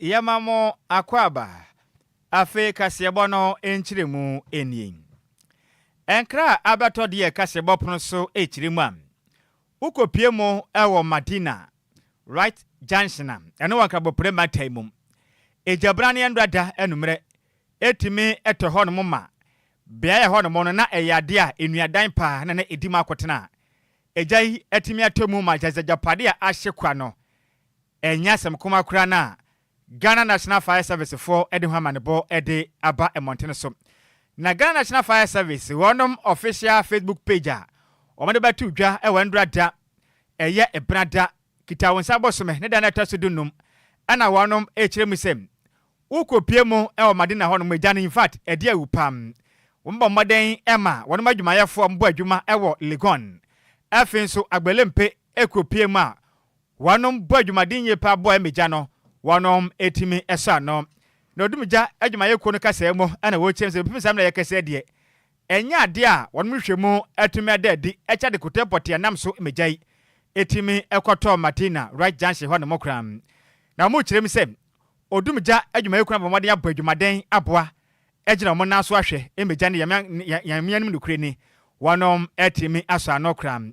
Yɛma mo akwaaba. Afei kaseɛbɔ no nkyerɛmu nie. Nkra a abɛtɔ deɛ kaseɛbɔ pono so kyerɛ mu a, wokɔpie mu wɔ Madina, Right Junction a ɛno wɔ Nkaboprɛ mantan mu. Egyabraneɛ no dada anwummerɛ ɛtumi tɔ hɔnom ma. Beaeɛ a ɛhɔ nom no na ɛyɛ adeɛ a nnuadan paa na na ɛdi mu akotena. Egya yi tumi tɔ mu ma gyadza agyapadeɛ a ahye kwa no Ɛnyɛ asɛm koma koraa na Ghana National Fire Service foɔ de ho amanebɔ de aba mmɔntene so. Na Ghana National Fire Service wɔnom official Facebook page a wɔde bɛto dwa wɔ Ndora da, ɛyɛ Ebena da, Kitawonsa bosome ne da no a ɛtɔ so dunum na wɔnom rekyerɛ mu sɛ wokɔpue mu wɔ Madina hɔ nom, gya no infact ɛde awu paa. Wɔbɔ mmɔden ma wɔnom adwumayɛfoɔ bɔ adwuma wɔ Legon, afei nso Agbelempe kɔpue mu a Wɔnom bɔ adwumaden yie paa boa mmegya no, wɔnom tumi sɔ ano. Na odumgya adwumayɛkuo no kasaa mu na wɔkyerɛm sɛ bɛpem saa mmrɛ yɛkɛsɛ deɛ ɛnyɛ adeɛ a wɔnom hwehwɛ mu tumi ada adi kyɛ ade kotee pɔtee a nam so mmegya yi tumi kɔtɔ Matina Rice Junction hɔ nom koraa. Na wɔnom kyerɛm sɛ odumgya adwumayɛkuo no abɔ mmɔden abɔ adwumaden aboa agyina wɔnom nan so ahwɛ mmegya no yɛn mmea nom nokorɛ ni wɔnom tumi asɔ ano koraa.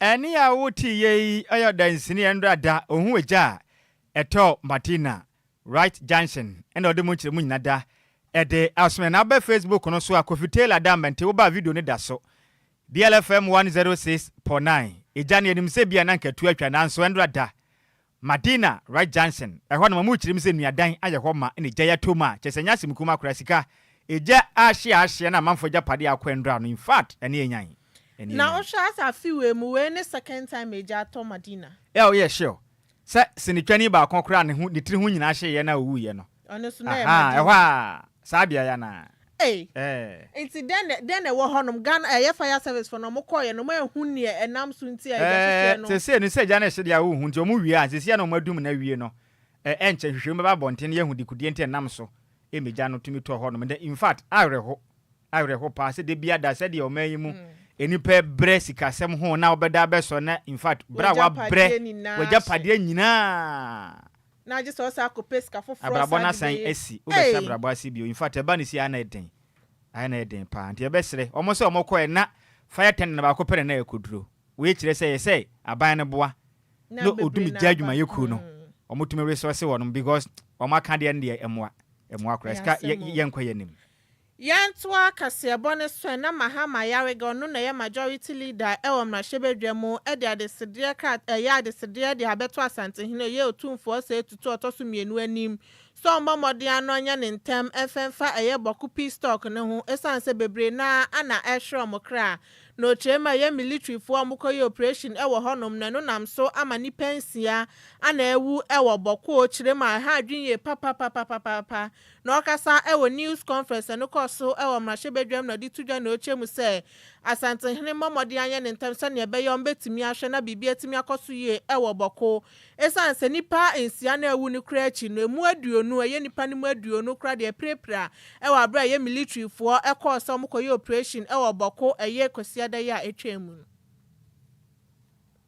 Ɛnne a woteeɛ yi yɛ ɔdansini a ɛno da da ɔhu egya a ɛtɔ Martina, Right Junction, ɛna ɔde mu nkyerɛmu nyina da ɛde asome na abɛ Facebook no so a Kofi Taylor da mmɛnte wo ba a video no da so BLFM 106.9 Egya no yɛnim sɛ bi a na nka atu atwa nanso ɛno da da Madina Wright Johnson, ɛhɔ no wɔn kyerɛ mu sɛ nuadan ayɛ hɔ ma na gya yi atɔ mu a, kyerɛ sɛ ɛnyɛ asɛm kumaa koraa, sika, egya ahye a ahye na amanfoɔ agyapadeɛ a akɔ nnora no, in fact, ɛne yɛn nyan, ɛne yɛn Na nyan. wohwɛ asa afe wei mu, wei ne second time a egya atɔ Madina. Ɛa wo yɛ sure sɛ sinitwani baako koraa a ne ho, ne tiri ho nyinaa hyeeɛ na ɔwuiɛ no? Ɔno nso na ɛyɛ Ahaa, ɛhɔ Madina. a. Saa beaeɛ ya no ara. Ei! Ɛɛ. Nti dɛn na, dɛn na ɛwɔ hɔnom? Ghana, ɛyɛ fire service foɔ no, wɔn kɔɔeɛ no, wɔn anhu neɛ ɛnam so nti a egya Ɛɛ, hyehyɛɛ no. seesei no, sɛ gya no hyede a wonhu nti, wɔn wie a, seesei a na wɔn adum no awie no, ɛ, ɛnkyɛ nhwehwɛmu bɛba abɔnten na yɛahu dekodeɛ nti a ɛnam so ma egya no tumi tɔ hɔnom nnɛ. In fact, awerɛho, awerɛho paa sɛ da biara da, sɛdeɛ ɔman yi mu nnipa rebrɛ sikasɛm ho na wobɛda abɛsɔ na, in fact, berɛ a woabrɛ W'agyapadeɛ nyinaa w'agyapadeɛ so. nyinaa Na agye sɛ ɔsan akɔ pɛ sika foforɔ a Abrabɔ saa no de asan bɛyɛ. asi, wobɛhyɛ Ei! abrabɔ ase bio. In fact, ɛba no sei a na ɛden. Ayɛ na ɛyɛ den paa. Nti yɛbɛsrɛ, wɔn sɛ wɔn kɔɛ na fire attendant baako pɛ na na ɛkɔduro. Wei kyerɛ sɛ ɛyɛ sɛ aban no boa Na na bebree ɔdum na gya aba. adwumayɛ kuo no. Hmm. Wɔn tumi resource wɔnom because wɔn aka deɛ no deɛ ɛmoa. Ɛmoa koraa. Ɛyɛ Sika, yɛ, asɛm o. yɛnkɔ yɛn anim. Yɛntoa kaseɛbɔ no so ɛ na Mahama Ayariga ɔno na ɛyɛ majority leader ɛwɔ mmarahyɛbadwa mu ɛde adesedeɛ krat ɛyɛ adesedeɛ de abɛto Asantehene ɔyɛ Otumfoɔ Osei Tutu ɔtɔ so mmienu anim sɛ ɔmmɔ mmɔden ano nyɛ ne ntɛm mfɛ mfa ɛyɛ Bɔko Peace Talk no ho ɛsiane sɛ bebree no ara na ɛrehwere wɔn kra na ɔkyerɛ mu a ɛyɛ militarifoɔ a wɔkɔyɛ operation ɛwɔ hɔnom na ɛno nam so ama nnipa nsia ana awu ɛwɔ Bɔko ɔkyerɛ mu a ɛha adwene yie papapapapapapa Na ɔkasa wɔ news conference a ɛno kɔɔ so wɔ mmarahyɛbadwam na ɔde to dwa nea ɔkyerɛ mu sɛ Asantehene mmɔ mmɔden ayɛ ne ntɛm sɛnea ɛbɛyɛ a wɔbɛtumi ahwɛ na biribi atumi akɔ so yie wɔ Bɔko ɛsiane sɛ nnipa nsia na awu no koraa akyi no ɛmu aduonu ɛyɛ nnipa no mu aduonu koraa deɛ apirapira wɔ aberɛ a ɛyɛ militarifoɔ kɔɔ sɛ wɔkɔyɛ operation wɔ Bɔko ɛyɛ Kwasiada yi a ɛtwaam no.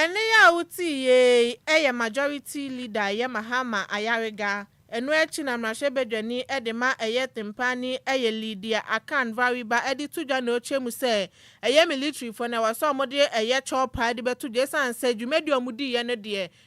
Ɛnne yi a wotii yei yɛ Majority Leader yɛ Mahama Ayariga, ɛno akyi na mmarahyɛbadwani de ma ɛyɛ Tempani yɛ Lydia Akan Variba de to dwa na ɔkyerɛ mu sɛ ɛyɛ military foɔ na ɛwɔ sɛ wɔde ɛyɛ Chorpa de bɛto dwa ɛsiane sɛ dwumadi a wɔdiiɛ no deɛ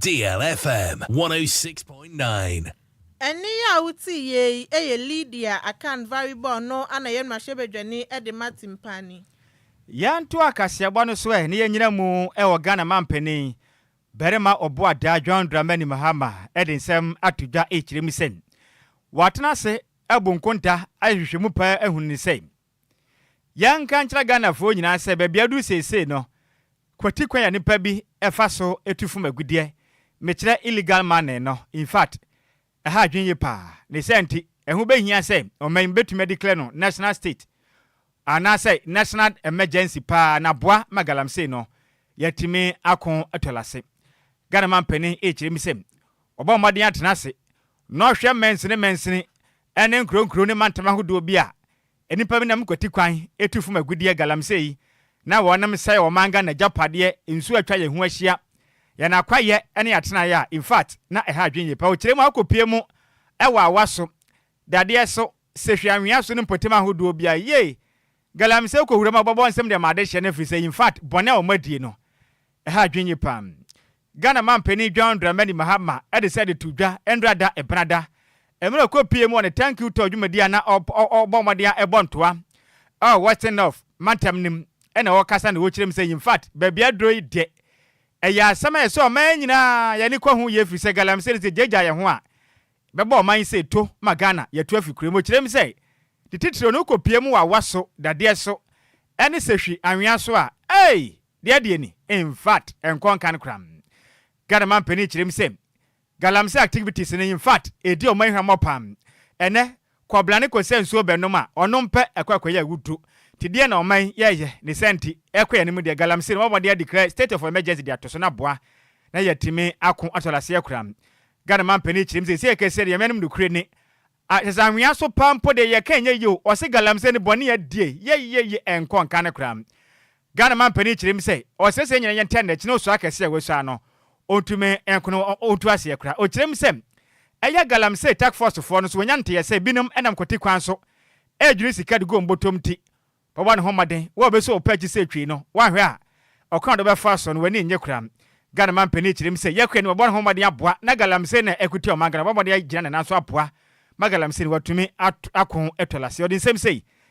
Deal FM 106.9. Ɛnne yi a wotiiɛ yi yɛ Lydia Akan Varibor no ana yɛ mmarahyɛbadwani de ma Timpani. Yɛntoa kaseɛbɔ no so ɛ na yɛnyina mu wɔ Ghana Mampanin Barima Ɔboadaa John Dramani Mahama de nsɛm ato dwa rekyerɛ mu sɛ, wɔatena ase abu nkonta ahwehwɛ mu paa ahunu no sɛ, Yɛnka nkyerɛ Ghanafoɔ nyinaa sɛ baabi a aduru seesei no, kwati kwan a nnipa bi fa so tu fom agudeɛ, mekyerɛ illegal money no, in fact, ɛha adwene yie paa. Ne saa nti, ɛho bɛhia sɛ ɔman yi bɛtumi adeclare no national state anaasɛ national emergency paa na aboa ma galamsey no yɛatumi ako ato ase. Ghana manpanin rekyerɛ mu sɛ Ɔbɔ mmɔden atena ase na ɔhwɛ mansini mansini ne nkurow nkurow ne mantam ahodoɔ bi a nnipa bi nam kwati kwan tu fam agudeɛ galamsey na wɔnom sɛe ɔman Ghana agyapadeɛ nsuo a atwa yɛn ho ahyia, yɛn akwayɛ ne yɛn atenaeɛ a in fact na ɛha adwene yɛ paa. Ɔkyerɛ mu akɔpue mu wɔ awa so, dadeɛ so, sehwe anwea so ne mpɔtam ahodoɔ biara. Yei Galamsey kɔ wuram a ɔbɛbɔ nsɛm de ama adehyeɛ no ɛfiri sɛ in fact bɔne a wɔadie no ɛha adwene yie paa. Ghana manpanin John Dramani Mahama de sɛ de to dwa Ndra da Ebena da mmerɛ ɔkɔ pie mu wɔ ne Thank You Tour dwumadie a na ɔbɔ mmɔden a ɛbɔ ntoa ɛwɔ Western North mantam no mu na ɔrekasa na ɔrekyerɛ mu sɛ in fact baabi aduro yi deɛ ɛyɛ asɛm a ɛsɛ ɔman nyinaa yɛn ani kɔ ho yie ɛfiri sɛ Galamsey no sɛ ɛgyaagyaa yɛn ho a Bɛbɔ ɔman yi sei to ma Ghana yɛtu afi kura mu. Kyerɛ mu sɛ de titiriw no wokɔ pue mu wɔ awa so, dadeɛ so, ɛne sɛ hwi anwea so a, ei! Deɛ adeɛ ni. In fact, ɛnkɔ nkan koraa. Ghana man panin kyerɛ mu sɛ Galamsey activities no in fact, ɛdi ɔman yi hwammɔ paa. Ɛnnɛ, Kɔbla ne kɔsɛ nsuo bɛ nom a ɔnom pɛ ɛkɔ ɛkɔ yɛ wudu te deɛ na ɔman yi yɛ yɛ ne sɛ nti ɛkɔ yɛ no mu deɛ galamsey no wɔn mɔden adi krɛ state of emergency de ato so na boa na yɛ timi ako atɔ laseɛ koram Ghana man panin kyirim sɛ ɛsɛ kɛseɛ deɛ yɛnom nokure ne a hyɛ sɛ anwea so paa mpo deɛ yɛ ka ɛnyɛ yie o ɔse galamsey no bɔne adie yɛ yɛ yɛ ɛnkɔ nka no koraa Ghana manpanin kyerɛ mu sɛ ɔsrɛsrɛ nyina yɛ ntɛn dɛ kyena osua kɛse a wasua no ontumi nkono ontu aseɛ koraa. Okyerɛ mu sɛ ɛyɛ galamsee task force foɔ no nso wɔnya nteyɛ sɛ binom nam kwati kwan so ɛredwene sika de gu wɔn bɔtɔm nti wɔbɔ ne ho mmɔden wɔ ɔbɛsu ɔpɛ akyi sɛ twii no wanhwɛ a ɔkwan a ɔde bɛfa so no wani nnye koraa. Ghana manpanin kyerɛ mu sɛ yɛkora ni wɔbɔ ne ho mmɔden aboa na galamsee no a ɛko tia ɔman Ghana wɔbɔ mmɔden agyina ne nan so aboa ma galamsee no watumi ako atu alaseɛ. Ɔde nsɛm sei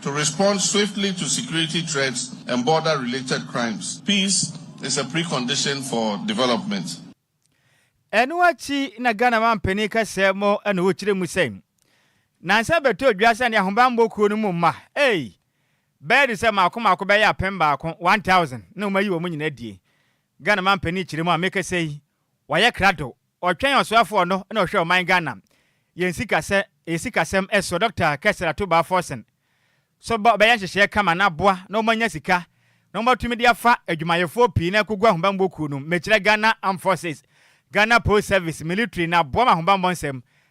To respond swiftly to security threats and border related crimes, peace is a precondition for development. Ɛno akyi na Ghana manpanin kasaa mu na ɔkyerɛ mu sɛ, Nansa bɛtɔɔ dwa sɛ ne ahobammɔ kuo no mu mma, ei, bɛyɛ de sɛ maako maako bɛyɛ apem baako, 1,000, na wɔayi wɔn nyinaa adie. Ghana manpanin kyerɛ mu a mekasa yi, wɔayɛ krado Ɔtwɛn ɔsoafoɔ no na ɔhwɛ ɔman Ghana yɛn sika sɛ ɛyɛ sikasɛm ɛso Doctor Kester Atubaa Forson so ba ɔbɛyɛ nhyehyɛɛ kama na aboa na wɔn anya sika na wɔn atumi de afa adwumayɛfoɔ pii na ɛkɔgu ahobanbɔ kuo nom mekyerɛ Ghana Armed Forces Ghana Post Service Military na aboa ma ahobanbɔ nsɛm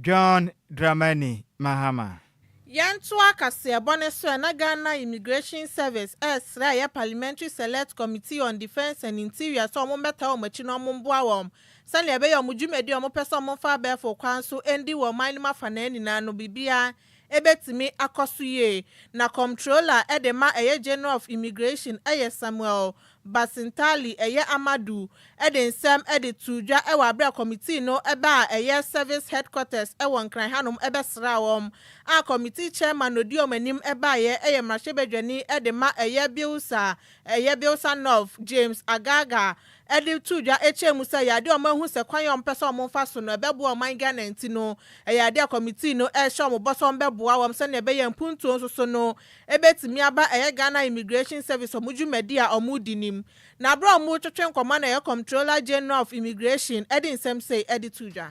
John Dramani Mahama. Yɛntoa kaseɛbɔ no so ɛna Ghana Immigration Service ɛresrɛ ɛyɛ Parliamentary Select Committee on Defence and Interior sɛ wɔn mmɛtaa wɔn akyi na wɔn mmoa wɔn sɛnea ɛbɛyɛ wɔn dwumadi a wɔpɛ sɛ wɔn fa abɛɛfo kwan so ɛndi wɔ ɔman no mu afanaa nyinaa no biribiara Ebetumi akɔ so yie. Na Comptroller de ma ɛyɛ General of Immigration yɛ Samuel Basintali yɛ Amadu de nsɛm de too dwa wɔ aberɛ a Committee no ba a ɛyɛ Service Headquarters wɔ Nkran hanom bɛsraa wɔn a Committee Chairman na ɔdi wɔn anim baeɛ yɛ Mmarahyɛbadwani de ma ɛyɛ Bilsa ɛyɛ Bilsa North James Agaga de too dwa kyerɛɛ mu sɛ ɛyɛ ade a wɔahu sɛ kwan a wɔpɛ sɛ wɔfa so no, ɛbɛboa ɔman Ghana nti no, ɛyɛ ade a kɔmitii no rehyɛ wɔn bɔ sɛ wɔbɛboa wɔn sɛnea ɛbɛyɛ a mpuntuo nso so no bɛtumi aba. Ɛyɛ Ghana Immigration Service wɔn dwumadi a wɔredi no mu, na berɛ a wɔretwetwe nkɔmmɔ no, ɛyɛ Comptroller General of Immigration de nsɛm sei de too dwa.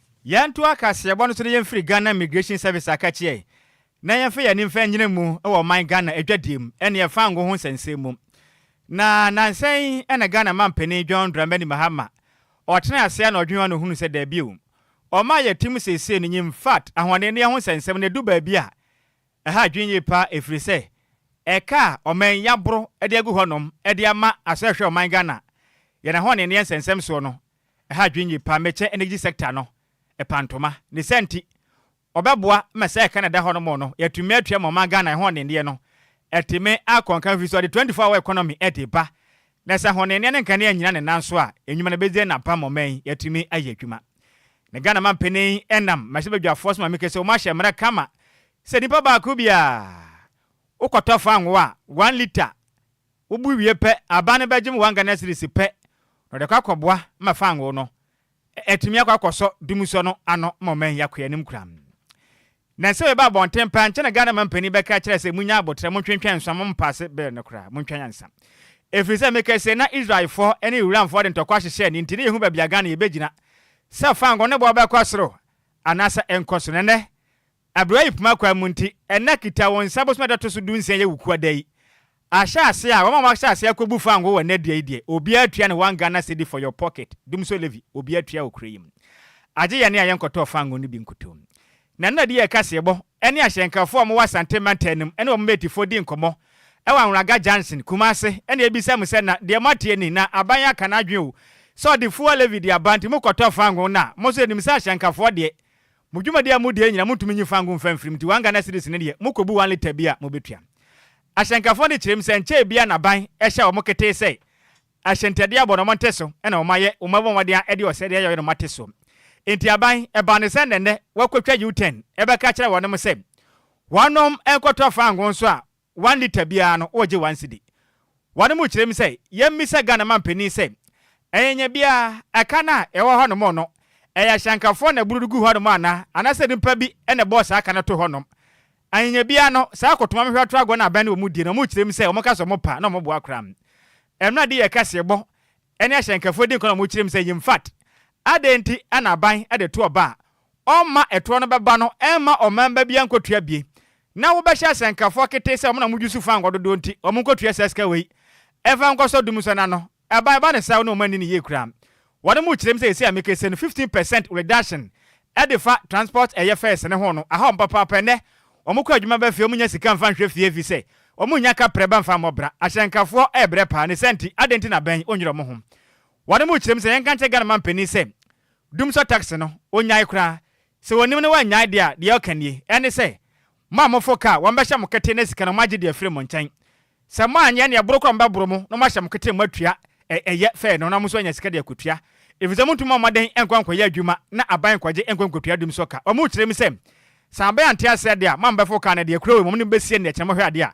Yɛnto akaseɛbɔ no so na yɛmfiri Ghana Immigration Service akakyeɛ na yɛmfa yɛn ani mfa nyina mu wɔ ɔman Ghana adwadie mu ne ɛfa ngo ho nsɛnsɛm mu. Na nansa yi na Ghana Mampanin John Dramani Mahama ɔtenaa aseɛ na ɔdwene ho na ɔhunuu sɛ daabi o, ɔman a yɛte mu seesei no nyɛ in fact ahoɔdenneɛ ho nsɛnsɛm no ɛdu baabi a ɛha adwene yie paa ɛfiri sɛ ɛka a ɔman yi aboro de agu hɔnom de ama asɔrehwɛ ɔman Ghana yɛn ahoɔdenneɛ nsɛnsɛm soɔ no Ɛha adwene nye paa Merchant Energy Sector no ɛpa ntoma. Ne saa nti, ɔbɛboa ma saa ɛka no a ɛda hɔnom no yɛatumi atua ma ɔman Ghana ɛho nnenneɛ no atumi akɔ nkan firi sɛ ɔde 24 hour economy de reba na sɛ honnenneɛ ne nkanea nnyina ne nan so a nnwuma no bɛdzi na apam ma ɔman yi atumi ayɛ adwuma na Ghana manpanin nam mmarahyɛbadwafoɔ so ma meke sɛ wɔahyɛ mmara kama sɛ nipa baako biara wokɔtɔ fangoo a 1 litre Wobu wie pɛ, aban no bɛgye wɔn Ghana cedis pɛ na wɔde akɔ akɔboa ma fangoo no atumi akɔ akɔsɔ dumsɔ no ano ma ɔman yi akɔ anim koraa. Nnansa wei ba abɔnten paa, ankyɛ na Ghana manpanin bɛka akyerɛ sɛ monnya aboterɛ, montwentwɛn nso ama mompaase bill no koraa, montwa nyansa. Ɛfiri sɛ meka sei na Israelfoɔ ne Iranfoɔ de ntɔkwa hyehyɛɛ ne nti ne yɛhu baabi a Ghana yɛbɛgyina sɛ fangoo no boɔ bɛkɔ soro anaasɛ ɛnkɔ soro na ɛnnɛ Abrɛ yi poma kwan mu nti, ɛnnɛ kita wo nsa bosome da to so du nsia yɛ wo kua da yi. Ahyɛ aseɛ a, wɔn a wɔahyɛ aseɛ akɔbu fango wɔ nnɛ dua yi deɛ, obiara tua ne one Ghana cedi for your pocket, Dumso levy, obiara tua wɔ kuro yi mu. Agye yɛn a yɛnkɔtɔɔ fango no bi nkutoo. Na nnɛ de yɛ kaseɛbɔ ne ahyɛnkafoɔ a wɔwɔ Asante mantam no mu ne wɔn metifoɔ di nkɔmmɔ wɔ Anwraga junction, Kumase, na yɛbisa mo sɛ na deɛ moateɛ ni, na aban yi aka n'adwene o, sɛ wɔde fuel levy de aba nti mokɔtɔ fango no a, mo nso yɛnim sɛ ahyɛnkafoɔ deɛ Mo dwumadi a mudie nyinaa muntumi nyi fango mfa mfiri mu nti one Ghana cedis no deɛ mokobu one litre bi a mobɛtua. Ahyɛnkafoɔ no de kyerɛm sɛ nkyɛɛ biara na aban hyɛ wɔn ketee sɛ ahyɛntiadeɛ abɔ na wɔn nte so na wɔn ayɛ wɔn abɔmɔden a de ɔsɛe de ayɛ wɔn na wɔn ate soɔ nti aban ɛbaa no sɛ nnɛnnɛ wɔakɔtwa U-turn ɛbɛka akyerɛ wɔnom sɛ wɔnom nkɔtɔ fango nso a One litre biara no wɔgye one cedi. Wɔnom kyerɛ mu sɛ yɛmmisa Ghana manpanin sɛ ɛnyɛnyɛ biara ɛka no a ɛwɔ hɔnom no ɛyɛ ashankafoɔ na ɛboro no gu hɔnom anaa anaasɛ nipa bi na ɛbɔɔ saa ka no too hɔnom. Ɛnyɛnyɛ biara no saa akɔtoma mehwɛ atorɔ agorɔ no abɛn no wɔdie no wɔkyerɛ mu sɛ wɔka sɛ wɔpa na wɔboa koraa. Ɛmena de yɛ kaseɛbɔ ne ashankafoɔ din kɔ na wɔkyerɛ mu sɛ yɛmfat. Adɛn nti na aban de to ɔba a ɔmma ɛtoɔ no bɛba no mma ɔman ba biara nkɔtua bie na wobɛhyɛ asɛnkafoɔ ketee sɛ wɔn na wɔdwo su faa nkwa dodoɔ nti wɔn nkɔtua saa sika wei mfa nkɔsɔ dum nsɔ no ano ɛba ɛba no saa wo ne ɔman nni no yie koraa wɔn mu kyerɛm sɛ ɛsei a meka ɛsei no 15 percent reduction ɛde fa transport ɛyɛ fares no ho no aha wɔn papaapa ɛnɛ wɔn kɔ adwuma ba fie wɔn nya sika mfa nhwɛ fie ɛfiri sɛ wɔn nya ka prɛ ba mfa mmɔ bra ahyɛnkafoɔ ɛbrɛ paa ne saa nti adɛn nti na bɛn wɔnyere wɔn ho wɔn mu kyerɛm sɛ yɛnka nkyɛ Ghana mampanin sɛ Dum sɔ taxi no, ɔnnyae koraa. Sɛ ɔnim na wannyae deɛ a, deɛ ɔka nie. Ɛne sɛ, mo a moforo kaa, wɔbɛhyɛ mo kete na sika no moagye de afiri mo nkyɛn. Sɛ moanyɛ nea ɛboro koraa a wɔbɛboro mo na wɔahyɛ mo kete na moatua ɛ ɛyɛ fɛɛ no na mo nso anya sika de akɔtua. Ɛfiri sɛ montumi mmɔ mmɔden nkɔ nkɔyɛ adwuma na aban nkɔgye nkɔ nkɔtua dum sɔ ka. Wɔkyerɛ mu sɛ, Sɛ aban ante aseɛ deɛ a, moammɛforo kaa no deɛ, kuro wei mmom ne mobɛsie no deɛ kyerɛ mohwɛ adeɛ a.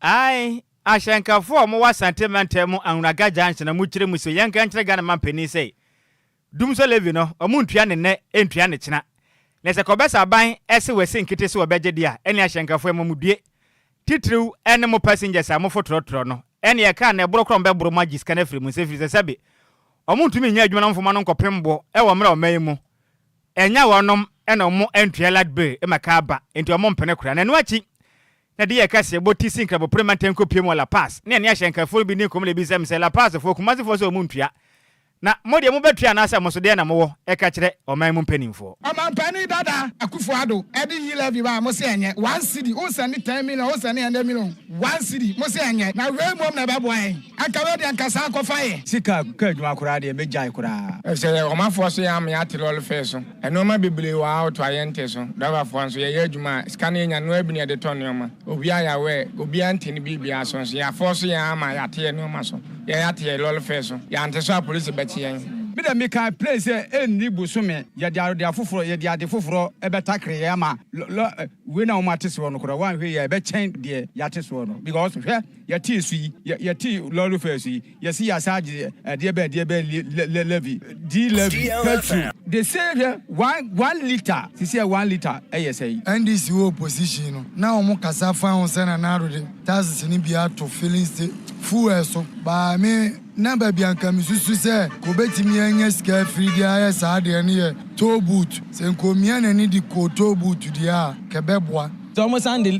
Ae, ahyɛnkafo a wɔwɔ Asante mantam mu Anwuraga Junction a mokyerɛ mu so, yɛnka nkyerɛ Ghana manpanin sɛ, Dumsor levy no, wɔntua no nnɛ, ntua no kyena. Na sɛ kɔbɛsa aban se wɔasi nkete so wɔbɛgye de a, ɛne ahyɛnkafo ɛmmɔ mo due. Titiriw ne mo passengers a mofo trɔtrɔ no, ɛne ɛkaa no ɛboro korɔ bɛboro mo agye sika no afiri mo nsa efiri sɛ sɛbe wɔntumi nyɛ adwuma na wɔmfa mo ano nkɔpem boɔ wɔ mmra ɔman yi mu. Ɛnyɛ wɔnom na wɔn ntua light bill ma car ba, enti wɔn mpene koraa. Na ɛno akyi, na de yɛɛ kɛse bɔ ti sii nkrabopono ma ntɛn kɔ pue mu wɔ La Paz, ne ɛne ahyɛnkafo no bi dii nkɔmmɔ na ebisaa me sɛ, La Pazfoɔ, Kumasefoɔ sɛ wɔn ntua, na mo deɛ mobɛtua anaasɛ mo so deɛn na mowɔ ɛka kyerɛ ɔman mu mpaninfoɔ. Ɔmanpanin dada Akuffo Addo ɛde yi levy baa mo se ɛnyɛ, one cedi, wo sɛnde ten million, wo sɛnde hundred million, one cedi, mo se ɛnyɛ, na wei mmom na ɛbɛboa yɛn, anka wei deɛ anka saa kɔfa yɛ. Sika car adwuma koraa deɛ mɛgyae koraa. Ɛfisɛ ɔmanfoɔ so yɛ amee ate lɔre fare so. Nnoɔma bebree wɔ ha a wotoa yɛn nte so. Driverfoɔ nso yɛyɛ adwuma a sika no yɛnya no ara bi na yɛde tɔ nnoɔma. Owia a yɛawɛ obiara nte ne biribiara so nso yɛafɔɔso yɛn ara ma yɛate yɛn nnoɔma so. Yɛn ate yɛn lɔre fare so. Yɛante so a polisi bɛkye yɛn. Me deɛ mekaa plane sɛ ɛnni bosome yɛde ade afoforɔ yɛde ade foforɔ bɛtakere yɛn ama lɔ wei na wɔate soɔ no koraa woanhwɛ yie a ɛbɛkyɛn deɛ yɛate soɔ no because hwɛ yɛtee su yi yɛtee lɔre fare su yi. Yɛse yɛ asaa gye ɛdeɛ bɛn ɛdeɛ bɛn le levy di levy petrol. They say hwɛ one one litre sisi ɛ one litre ɛyɛ sɛn. NDC wɔ opposition no na wɔn kasa faa ho sɛ Nana Addo de taxes no bi ato filling sta fuel so baa me na baabi a nka me susu sɛ nka obetumi anya sika afiri de ayɛ saa deɛ no yɛ toll booth sɛ nka omia n'ani de kɔɔ toll booth deɛ a nka ɛbɛboa. Sɛ wɔn san de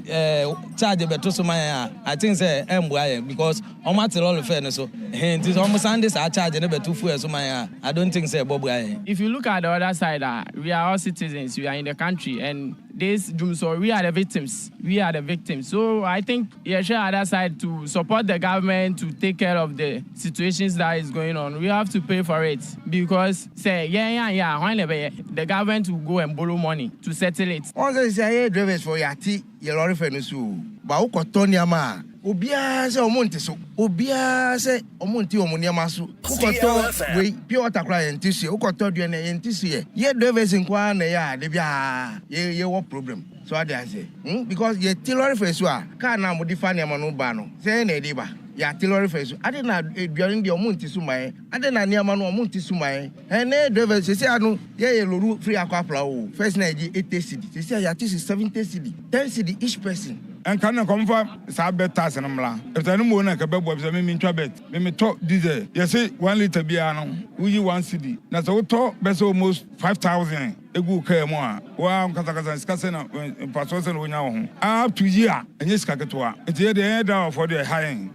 charge bɛto so ma yɛn a I think sɛ ɛmboa yɛn because. Ɔmo ate lɔre fare no so hee nti sɛ ɔmo san de saa charge no bɛto fuel so man a I don't think sɛ ɛbɔ bra yɛn. If you look at the other side a we are all citizens we are in the country and this dwum so we are the victims we are the victims so I think yɛhwɛ other side to support the government to take care of the situations that is going on we have to pay for it because sɛ yɛn anyɛ a hwan na ɛbɛyɛ the government will go and borrow money to settle it. Wɔn sɛ sisi ayɛ drivers for yɛ ate. Yɛ lɔre fɛ no so o. Ba wo kɔ tɔ nneɛma a. Obiara sɛ ɔmo nte so. Obiara sɛ ɔmo nte ɔmo nneɛma so. Wo kɔ tɔ wei, pure water koraa yɛn nte so yɛ. Wo kɔ tɔ aduane a, yɛn nte so yɛ. Yɛ drivers nko ara na ɛyɛ a da biara yɛ yɛ wɔ problem. So ate aseɛ? Hum because yɛ te lɔre fɛ so a, car no a wɔde fa nneɛma no ba no, sɛ yɛn na yɛde ba. Yɛ ate lɔre fɛ so. Adɛn na aduane deɛ ɔmo nte so ma yɛn? Adɛn na nneɛma no ɔmo nte so ma yɛn? Ɛnɛ drivers sɛsɛ a no yɛ yɛ lorry free akɔ apra o first na yɛgye eighty cedi sɛsɛ a yɛate si seventy cedi ten cedi each person. Ɛnka no nka ɔmfa saa bet tax no mmra ɛfisɛ ɛno mmom na ɛka bɛboa ɛfisɛ me mentwa bet me metɔ diesel yɛse one litre biara no woyi one cedi na sɛ wotɔ bɛsɛ almost five thousand egu wo car mu a wo ara nkasakasa sika sɛn na mfasoɔ sɛn na wonya wɔ ho up to year ɛnyɛ sika ketewa nti yɛdeɛ yɛn driverfoɔ deɛ ɛha yɛn.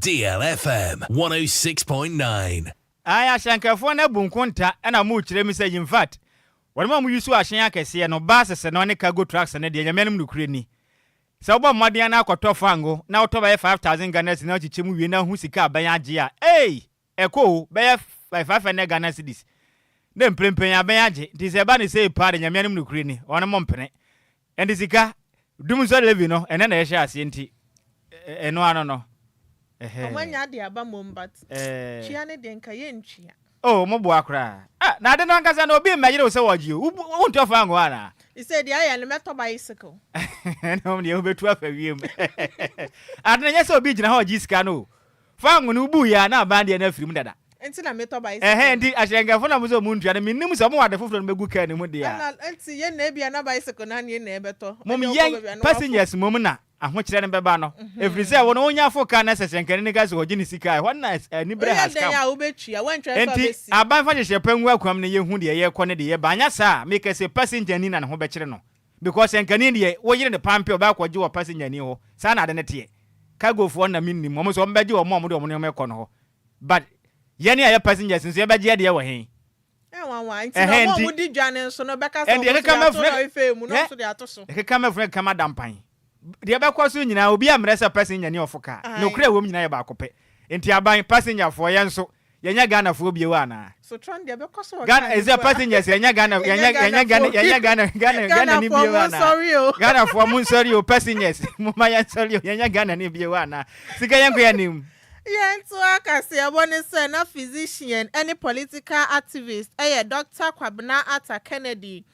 Deal FM 106.9. Ae ahyɛnkɛfoɔ no abu nkonta na mokyerɛ mu sɛ infact wɔnom a moyusu ahyɛn akɛseɛ no, buses no ne cargo trucks no deɛ nyame anom nokorɛ ni. Sɛ wobɔ mmɔden ara na akɔtɔ fango na wotɔ bɛyɛ five thousand Ghana cedis na wakyekyɛ mu wie na ho sika abɛn agye a ei! Ɛkɔ o, bɛyɛ five hundred Ghana cedis ne mprempren abɛn agye nti sɛ ɛba no sei paa deɛ nyame anom nokorɛ ni, wɔnom mpene. Ɛnde sika dumsɔ Levi no, ɛnnɛ na ɛhyɛɛ aseɛ nti, ɛno ano no, ɛhɛɛ. Ɔmo anya ade aba mmom but tua no deɛ nka yɛ ntua. Oh ɔmo boa koraa. Ah na ade no ankasa no obi mmɛyere wo sɛ wɔɔgye o, wo wontu afa angu hɔ anaa? Me sɛ deɛ ayɛ no mɛtɔ bicycle. Ɛna ɔmo deɛ wo bɛtu afa wiem. Ade no ɛnyɛ sɛ obi gyina hɔ ɔgye sika no o. Fa ngo no wobuu yɛ a na aban deɛ no afiri mu dada. Nti na metɔ bicycle. Ɛhɛn nti ahyerɛnkɛfo na wɔsɛ wɔn ntua no minnim sɛ wɔn ade foforɔ no bɛgu car no mu deɛ a. Ana nti yɛn na ebia na bicycle no ani na ɛbɛtɔ Mom ɛdeɛ ɔkɔ yɛn baabi a na wafo. passengers mom na ahokyerɛ no bɛba no ɛfiri sɛ wɔn wɔn nya fo car na sɛ hyɛnkani no ka sɛ ɔgye ne sika a ɛhɔ no na ɛs anibere Woyɛ has dɛn come. a wobɛtua woantwa nso a Nti bɛsi. aban fa hyehyɛ pa ngu akwam na yɛhu deɛ yɛkɔ ne deɛ yɛba anyɛ saa a mekɛse passenger ni na ne ho bɛkyere no. Because ɛnkani deɛ wo yere ne pampe ɔbɛ akɔgye wɔ passenger-ni hɔ saa na ade no teɛ. Cargo foɔ no na mennim, wɔn nso wɔn bɛgye wɔn a wɔde wɔn nneɛma rekɔ no hɔ. But yɛn a yɛ passengers nso yɛbɛgye yɛdeɛ wɔ he? Nwanwa, nti na wɔn a wɔdi dwa no nso no bɛka sɛ wɔn nso deɛ ato no afei mu na wɔn nso deɛ ato so. Ɛkeka mɛfunu ɛkeka mada mpan. Deɛ ɛbɛkɔ so nyinaa, obiara mmrɛ sɛ passenger ne ɔfo car. Nokorɛ a ɛwɔ mu nyinaa yɛ baako pɛ. Enti aban, passenger foɔ, yɛn nso, yɛnyɛ Ghana foɔ bio anaa? Ghana, ɛsɛ passengers, yɛnyɛ Ghana, yɛnyɛ, yɛnyɛ Ghana, yɛnyɛ Ghana, Ghana, Ghana ni bio anaa? Ghana foɔ mo nsɔre o, passengers, momma yɛn sɔre o, yɛnyɛ Ghana ni bio anaa? Sika yɛn nkɔ anim. Yɛn to akaseɛbɔ ne sɛ na physician ne political activist yɛ Doctor Kwabena Atta Kennedy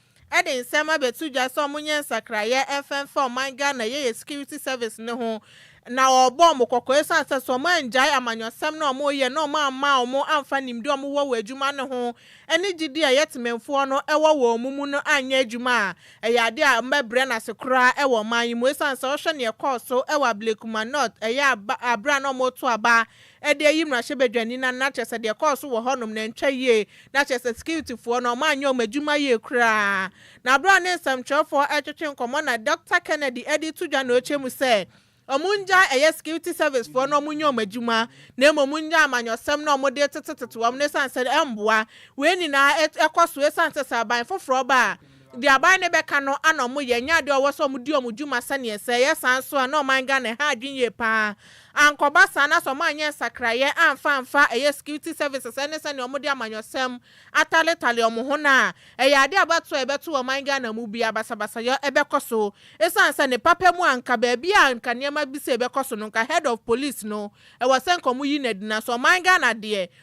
de nsɛm abɛto dwa sɛ wɔnyɛ nsakraeɛ mfɛmfa ɔman Ghana Yɛyɛ Security Service no ho na wɔrebɔ wɔn kɔkɔ ɛsiane sɛ sɛ wɔanngyae amanyɔsɛm no a wɔreyɛ na wɔamma wɔn amfa nimdeɛ a wɔwɔ wɔ adwuma no ho ne gyedie a ɛyɛ temanfoɔ no wɔ wɔ wɔn mu no annyɛ adwuma a ɛyɛ adeɛ a wɔbɛbrɛ no ase koraa wɔ ɔman yi mu ɛsiane sɛ wohwɛ deɛ ɛkɔɔ so wɔ Ablekuma North ɛyɛ berɛ a na wɔreto aba Ɛde ayi mmarahyɛbadwani no na kyerɛ sɛ deɛ ɛkɔɔ so wɔ hɔnom no ɛntwa yie, na kyerɛ sɛ sikiritifoɔ no wɔanyɛ wɔn adwuma yie koraa. Na berɛ a ne nsɛmtwerɛfoɔ retwetwe nkɔmmɔ na Dɔkta Kennedy de reto dwa na ɔkyɛ mu sɛ wɔn nnyae ɛyɛ sikiriti sɛvisefoɔ no wɔnyɛ wɔn adwuma na mmom wɔnyɛ amanyɔsɛm na wɔde retetetete wɔn no ɛsiane sɛ ɛmmoa. Wei nyinaa ɛkɔ so ɛsiane sɛ sɛ aban foforɔ ba a, Deɛ aban no bɛka no ana ɔmo yɛ, ɛnyɛ adeɛ a ɔwɔ sɛ ɔmo di ɔmo dwuma sɛdeɛ ɛsɛ, ɛyɛ saa nso a na ɔman Ghana ɛha adwene yie paa, ankɔba saa na sɛ ɔmo anyɛ nsakraeɛ amfa amfa ɛyɛ security services ɛne sɛdeɛ ɔmo de amanyɔsɛm ataletale ɔmo ho no a, ɛyɛ adeɛ a ɛbɛto a ɛbɛto ɔman Ghana mu biara, basabasayɔ ɛbɛkɔ so, ɛsiane sɛ ne papa mu a nka baabi a nka nneɛma bi sei bɛkɔ so no nka head of police no ɛwɔ sɛ nka ɔmo yi no adi, nanso ɔman Ghana deɛ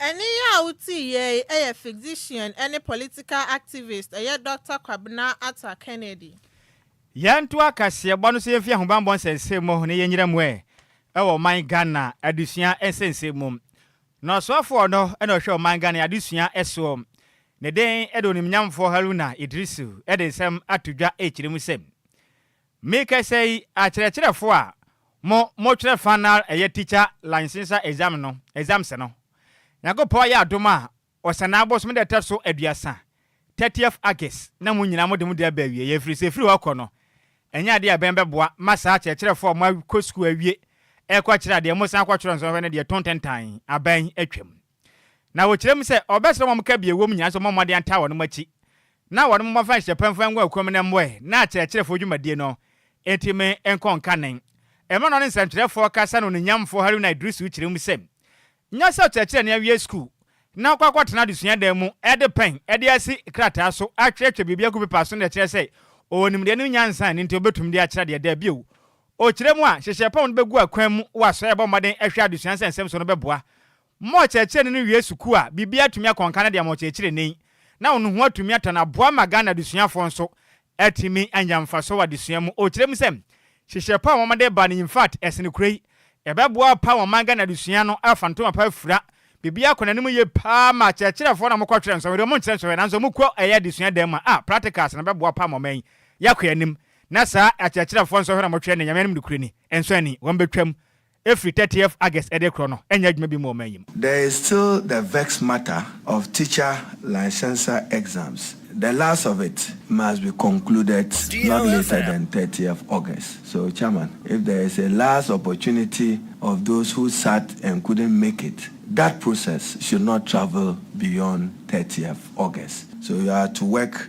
Ɛne yi a wotii yɛ yi yɛ physician ne political activist yɛ Dɔkta Kwabena Atta Kennedy. Yɛnto akaseɛbɔ no so yɛmfi ahobanbɔ nsɛnsɛm mu na yɛnyina mu ɛ wɔ ɔman Ghana adesua nsɛnsɛm mu. Na ɔsoafoɔ no na ɔhwɛ ɔman Ghana adesua soɔ, ne den de Onimnyamfoɔ Haruna Iddrisu de nsɛm ato dwa kyerɛ mu sɛ, Merekasa yi, akyerɛkyerɛfo a mo mokyerɛ fanal ɛyɛ teacher licenser exam no, exams no, Nyankopɔn ayɛ adom a Ɔsanaa bosome da ɛtɔ so aduasa, thirtieth August, na mo nyinaa mode mo de aba awieɛ, ɛfiri sɛ ɛfiri hɔ rekɔ no, ɛnyɛ adeɛ a ɛbɛn bɛboa ma saa akyerɛkyerɛfo a moakɔ sukuu awie rekɔkyerɛ adeɛ, mosan kɔtwerɛ nsɔhwɛ no deɛ tontentan, aban atwam. Na wɔkyerɛ mu sɛ, ɔbɛsrɛ wɔn ka bi a ɛwɔ mu nyinaa sɛ wɔmmɔ mmɔden ntaa wɔn akyi na wɔn mmɔfa nhyɛ pɛmfɛn ngo a ɛkura mu no mmoɛ na akyerɛkyerɛfoɔ dwumadie no ntumi nkɔ nkanen. Mmerɛ na ɔne nsɛntwerɛfoɔ kasa no Oninyamfoɔ Haruna Iddrisu kyerɛ mu sɛ, Nyɛ sɛ ɔkyerɛkyerɛni awie sukuu na wakɔ akɔtena adesua dan mu de pɛn de asi krataa so atwerɛtwerɛ biribi agu pepa so na ɛkyerɛ sɛ ɔwɔ nimdeɛ ne nyansa nti ɔbɛtumi de akyerɛ adeɛ. Dabi o, Ɔkyerɛ mu a, hyehyɛ pɔn no bɛgu akwan mu wɔ asoɛe a ɛbɔ mmɔden hwɛ adesua nsɛnsɛm so no bɛboa ma ɔkyerɛkyerɛni no wie sukuu a biribi atumi akɔ nkan de ama ɔkyerɛkyerɛni, na ɔno ho atumi atɔ no, aboa ma Ghana adesuafoɔ nso atumi anya mfasoɔ wɔ adesua mu. Ɔkyerɛ mu sɛ, hyehyɛ pɔn a wɔde ba no infact ɛsene kuro yi, ɛbɛboa paa ma ɔman Ghana adesua no afa ntoma pa afira, biribiara akɔ n'anim yie paa ma akyerɛkyerɛfoɔ no a wɔkɔtwerɛ nsɔhwɛ deɛ wɔnkyerɛ nsɔhwɛ nanso wɔkɔ ɛyɛ adesua dan mu a, ah, practicals no bɛboa paa ma ɔman yi akɔ anim. Na saa akyerɛkyerɛfoɔ nsɔhwɛ na wɔtwerɛ ne Nyame anom nokorɛ ni, nsɔ ani, wɔn bɛtwam afiri thirtieth August ɛde rekorɔ no, ɛnyɛ adwuma bi mma ɔman yi mu. There is still the vexed matter of teacher licensure exams, the last of it must be concluded not later than thirtieth August, so Chairman if there is a last opportunity of those who sat and couldn't make it, that process should not travel beyond thirtieth August, so you are to work.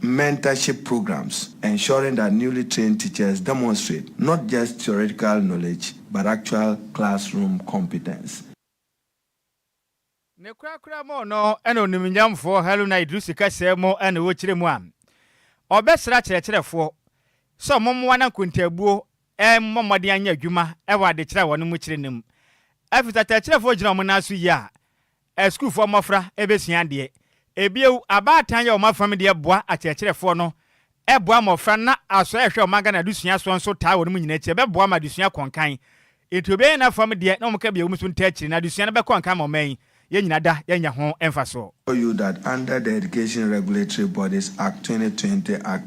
Mentorship programs ensuring that newly trained teachers demonstrate not just theoretical knowledge but actual classroom competence. Ne korakora mu no na onimnyamfoɔ Haruna Iddrisu kɛsɛɛ mu na ɔrekyerɛ mu a ɔrebɛsrɛ akyerɛkyerɛfoɔ sɛ wɔmmoa no akontaabuo mmɔ mmɔden anyɛ adwuma wɔ adekyerɛ a wɔn mu kyerɛ no mu. Afiri sɛ akyerɛkyerɛfoɔ gyina wɔn nan so yie a, A Sukuufoɔ mmɔfra bɛsua adeɛ. Bio, abaatan yɛ wɔn afam deɛ boa akyerɛkyerɛfoɔ no boa mmɔfra na asɔ a ɛhwɛ wɔn Ghana adesua soɔ nso taa wɔn mu nyinaa akyi. Ɛbɛboa ma adesua akɔ nkan. Nti obiara yɛ n'afam deɛ na wɔka bia wɔn nso ntaa akyire na adesua no bɛkɔ nkan ma ɔman yi. Yɛn nyinaa da yɛanya ho mfasoɔ. UDAT under the Education Regulatory Bodies Act, 2020 Act.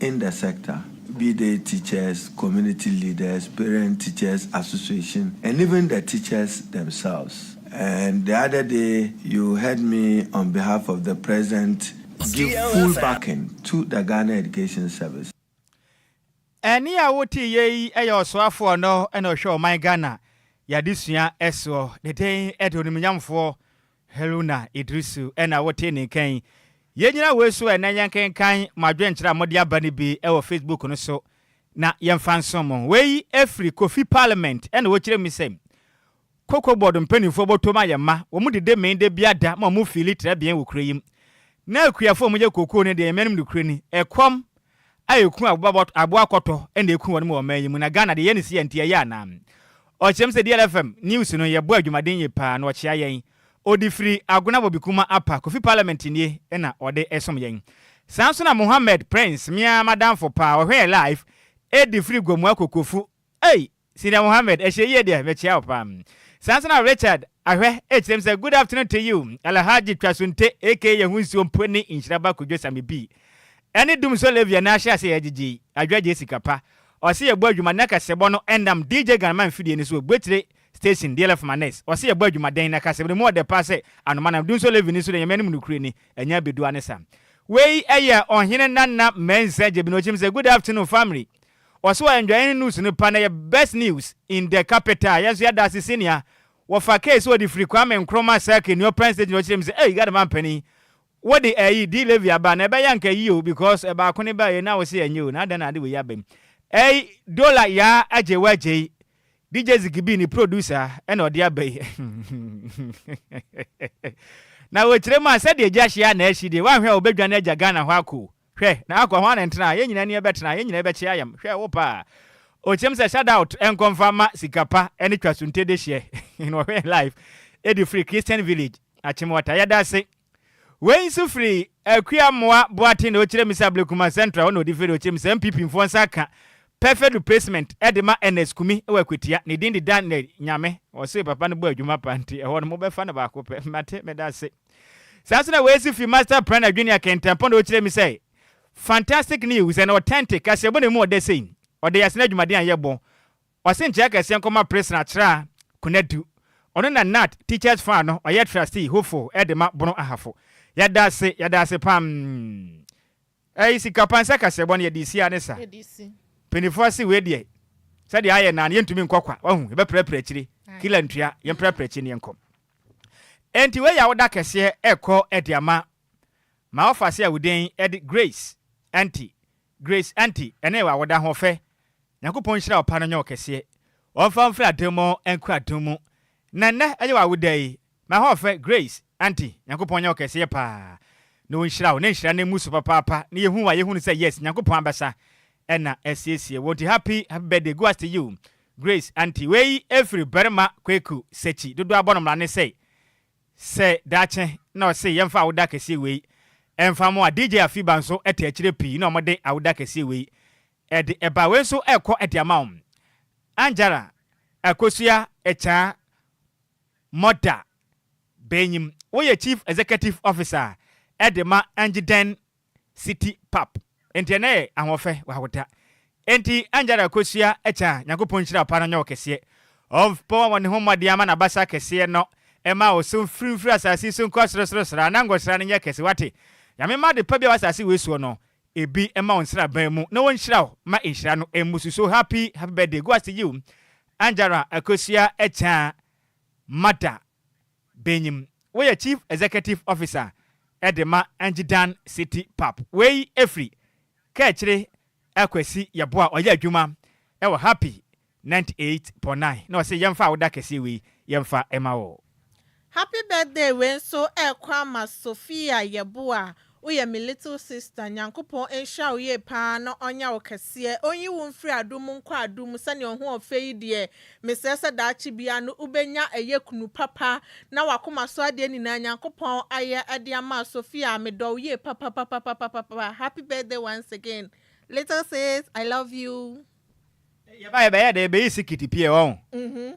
In the sector, be they teachers, community leaders, parent teachers association and even the teachers themselves and the other day you heard me on behalf of the president give full backing to the Ghana Education Service. Ɛnne a woteeɛ yi yɛ Ɔsoafoɔ no na ɔhwɛ ɔman Ghana, yɛadesua soɔ, ne din de Onimuonyamfoɔ Haruna Idrisu na wotee ne nka yi. Yɛnnyina wei so ɛ na yɛnkenkan mo adwenkyerɛ a mode aba no bi wɔ Facebook no so na yɛmfa nsom mo. Wei firi Kofi Parliament na ɔkyerɛ mu sɛ, Cocoa Board mpanimfoɔ bɔtom ayɛ ma, wɔn dede mee da biara da ma wɔn fiili trɛbea wɔ kuro yi mu. Na akuafoɔ a wɔyɛ cocoa no deɛ yɛn mmanom nokorɛ ni, ɛkɔm, a ɛku aboa kɔtɔ na ɛku wɔnom wɔ ɔman yi mu na Ghana de yɛ no si a nti ɛyɛ anaa? Ɔkyerɛm sɛ DLFM news no yɛbɔ adwumaden yie paa na ɔkyea yɛn. Ɔde firi Agona wɔ Bikuma apa Kofi parliament nie na ɔde som yɛn. Saa nso na Mohammed Prince me ara m'adamfo paa ɔhwɛ yɛn live ɛde firi Gomoa Kokofu ei Senior Mohammed, ɛhyɛ yie deɛ, mekyea wo paa. Saa nso na Richard, ahwɛ, ɛkyerɛ mu sɛ, Good afternoon to you, Alhaji Twasunte aka yɛn ho nsuo mpo ne nhyira ba Kwadwo Samebii ɛne Dumsor Levia na ahyɛ aseɛ gyegye yi, adwagyee sika pa. Ɔse yɛbɔ adwuma na kasɛbɔ no ɛnnam DJ Ganama mfidie no so wɔ Buakyire Station, DLF Manes. Ɔse yɛbɔ adwuma dɛn na kasɛbɔ no mu ɔdɛ paa sɛ anoma nam. Dumsor Levy no nso deɛ Nyame anim nokorɛ ni, ɛnyɛ abɛdua ne sa. Wei ɛyɛ Ɔhene Nana Mensah Gyebene ɔkyerɛ mu sɛ, Good afternoon family, Ɔse ɔyɛ ndwaeɛ news no pa na ɛyɛ best news in the capital yɛn nso yɛda ase senea wɔfa case ɔde firi Kwame Nkrumah circuit ne Open Stage na ɔkyerɛ mu sɛ ei Gada manpanin wode ɛyi di levy aba na ɛbɛyɛ anka yie o because ɛbaako ne baeɛ na wose ɛnyɛ o na adɛn na ade wei yi aba mu ɛyi Dola yaa agye wagyei DJ Zigibi ne producer ɛna ɔde aba yi na wɔkyerɛ mu a sɛdeɛ gya hye a na ɛhye deɛ woanhwɛ a wɔbɛdwane agya Ghana hɔ akɔ o. Hwɛ, na akɔ, hwan na ɛntena a, yɛn nyinaa ani bɛtena, yɛn nyinaa bɛkye ayam. Hwɛ, wo paa. Okyem sɛ shout out nkɔ mfa mma sika pa ne twa sunte dehyeɛ na wɔhwɛ yɛn live ɛdi firi Christian Village Akyemwata yɛda ase Wei nso firi Akua Mmoa Boate na ɔkyerɛ me sɛ Ablekuma Central hɔ na ɔdi firi ɔkyerɛ me sɛ NPP mfoɔ nsa aka perfect replacement ɛde ma Ernest Kumi wɔ Akwatia ne din de Daniel Nyame ɔse papa no bɔ adwuma pa nti ɛhɔ no mobɛfa no baako pɛ mate meda ase. Saa nso na woesi fi Master Plan Adwini Akentempɔn na okyerɛ me sɛ Fantastic News and Authentic kaseɛbɔ na emu ɔdɛ sei. Ɔde yɛ asene adwumaden a yɛbɔ. Ɔse nkyɛ akɛseɛ nkɔma Prison Akyerɛ a Konadu. Ɔno na Nat Teachers Fund no ɔyɛ Trustee, Hofo, de ma Bono Ahafo. Yɛda ase, yɛda ase paa mm. Ɛy sika pa nsɛ kaseɛbɔ no yɛde si a ne sa panifoɔ se wei deɛ sɛdeɛ ayɛ naa no yɛntumi nkɔ kwa wahu yɛbɛprapra akyire killer ntua yɛmprapra akyire ne yɛnkɔ ɛnti wei yɛ awoda kɛseɛ ɛkɔ ɛde ama ma ɔfa se a wo den ɛde Grace Anti Grace Anti ɛne wɔ awoda hoɔfɛ Nyankopɔn nhyira ɔpa no nyɛ ɔkɛseɛ ɔmfa mfiri adom mu nkɔ adom mu na nnɛ ɛyɛ wɔ awoda yi M'ahoɔfɛ Grace, Aunty, Nyankopɔn nyɛ wo kɛseɛ paa na ɔnhyira wo na nhyira no mmu so papaapa na yɛhu wo a yɛhunu sɛ yes Nyankopɔn abɛsa na asiesie wo nti happy happy birthday goes to you Grace, Aunty, wei ɛfiri barima Kweku Sekyi dodoɔ abɔ no mmara ne sɛ sɛ daakye na ɔse yɛmfa awoda kɛseɛ wei ɛmfa mo a DJ Afiba nso te akyire pii na wɔde awoda kɛseɛ wei ɛde ɛba wei nso ɛkɔ ɛde ama wo Anjara Akosua Ekyaa Murta Banyim, woyɛ Chief Executive Officer de ma Angydan City Pap. Enti ɛnnɛ yɛ Ahoɔfɛ wɔ Ahota. Enti Angyada kosua kya Nyankopɔn nhyira pa no nyɛ wo kɛseɛ. Ɔmpɔ wɔ ne ho mmɔden ama n'abasa kɛseɛ no mma wo so mfiri mfiri asase yi so nkɔ sorosoro sraa na nkɔsra no nyɛ kɛse wate. Nyame mma ade pa biara wɔ asase wei soɔ no ebi mma wo nsraban mu na wɔnhyira wo ma nhyira no mmusu so happy happy birthday go as to you Angela Akosua Akyang Mada Benyim, woyɛ Chief Executive Officer de ma Angidan City Pap. Wei firi Kaakyire Akwasi Yeboah ɔyɛ adwuma wɔ Happy 98.9 na ɔse yɛmfa awoda kɛseɛ wei yɛmfa ma wo. Happy birthday wei nso ɛɛkɔ ama Sophia yɛboa woyɛ me little sister Nyankopɔn nhyira wo yie paa na ɔnyɛ wo kɛseɛ ɔnyi wo mfiri adom mu nkɔ adom mu sɛdeɛ ɔho ɔfɛ yi deɛ mesrɛ sɛ daakye biara no wobɛnya ɛyɛ kunu papa na wakoma so adeɛ nyinaa Nyankopɔn ayɛ de ama Sophia medɔ wo yie papapapapapapa happy birthday once again little sis I love you. Yɛba yɛbɛyɛ dɛn yɛbɛyi sikiti pie wɔn.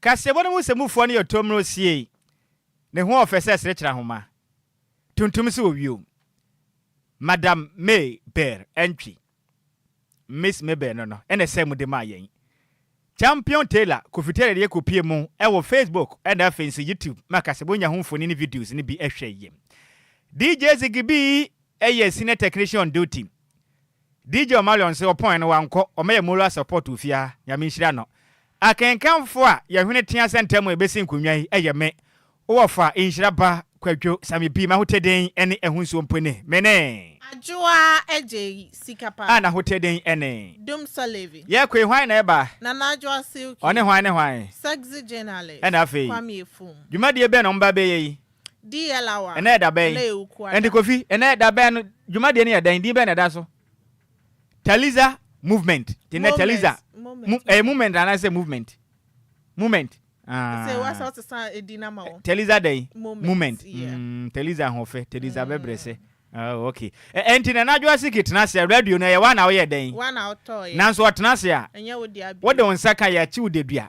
Kaseɛbɔ no mu nsɛmufoɔ no yɛ ɔtɔm no osiei, ne ho ɔfɛ sɛ serekyerɛ ahoma, tuntum sɛ owio. Madam May Beer Antwi, Miss May Beer no no na ɛsɛɛ mu de maa yɛn. Champion Tailor Kofi Taylor de yɛ kɔpie mu wɔ Facebook na afei nso YouTube ma kaseɛbɔ nya ho mfoni ne videos no bi hwɛ yie. DJ Ziggy B Ɛyɛ senior technician on duty. DJ Omarion se ɔpɔn no wankɔ, ɔmɛyɛ moral support wɔ fie ha. Nyame nhyira no. Akenkanfo a yɛn hwene tea sɛ ntɛm a yɛbɛsi nkonnwa yi ɛyɛ me, wo ɔfa, nhyira ba, Kwadwo, Sami P, M'ahoteden ne ɛho nsuo mpo ni. Me ne. Adwoa Adjei, Sika Pa. A N'ahoteden ne. Dum Salevi. Yɛkoe, hwan na ɛba? Nana Adwoa Silky. Ɔne hwan ne hwan? Sexy Jenale. Ɛna afei. Kwame Afum. Dwumadie bɛn na wɔba abɛyɛ yi? DLAWA, Ɛnnɛ yɛ da bɛn? Ɛnnɛ yɛ Wukuada. Ɛnde Kofi, ɛnnɛ yɛ da bɛn no dwumadie no yɛ dɛn? Din bɛn na ɛda so? Taliza Movement. Nti ɛnnɛ Taliza, Moment, mo, ɛyɛ moment. moment anaa sɛ movement? Moment. Sɛ woa sɛ Ah. wote sa edin no ama wo. Taliza dɛn? Moment, Moment. yeah. Mm, Taliza ahoɔfɛ, Taliza bɛbrɛsɛ. Oh, okay. Ɛ- Ɛnti Nana Adwoasike tena ase a, radio no ɛyɛ woa na woyɛ dɛn? Woa na wotɔɔeɛ. Nanso ɔtena ase a, Ɛnyɛ wo dea bio. wode wo nsa ka yɛakye wo dadua.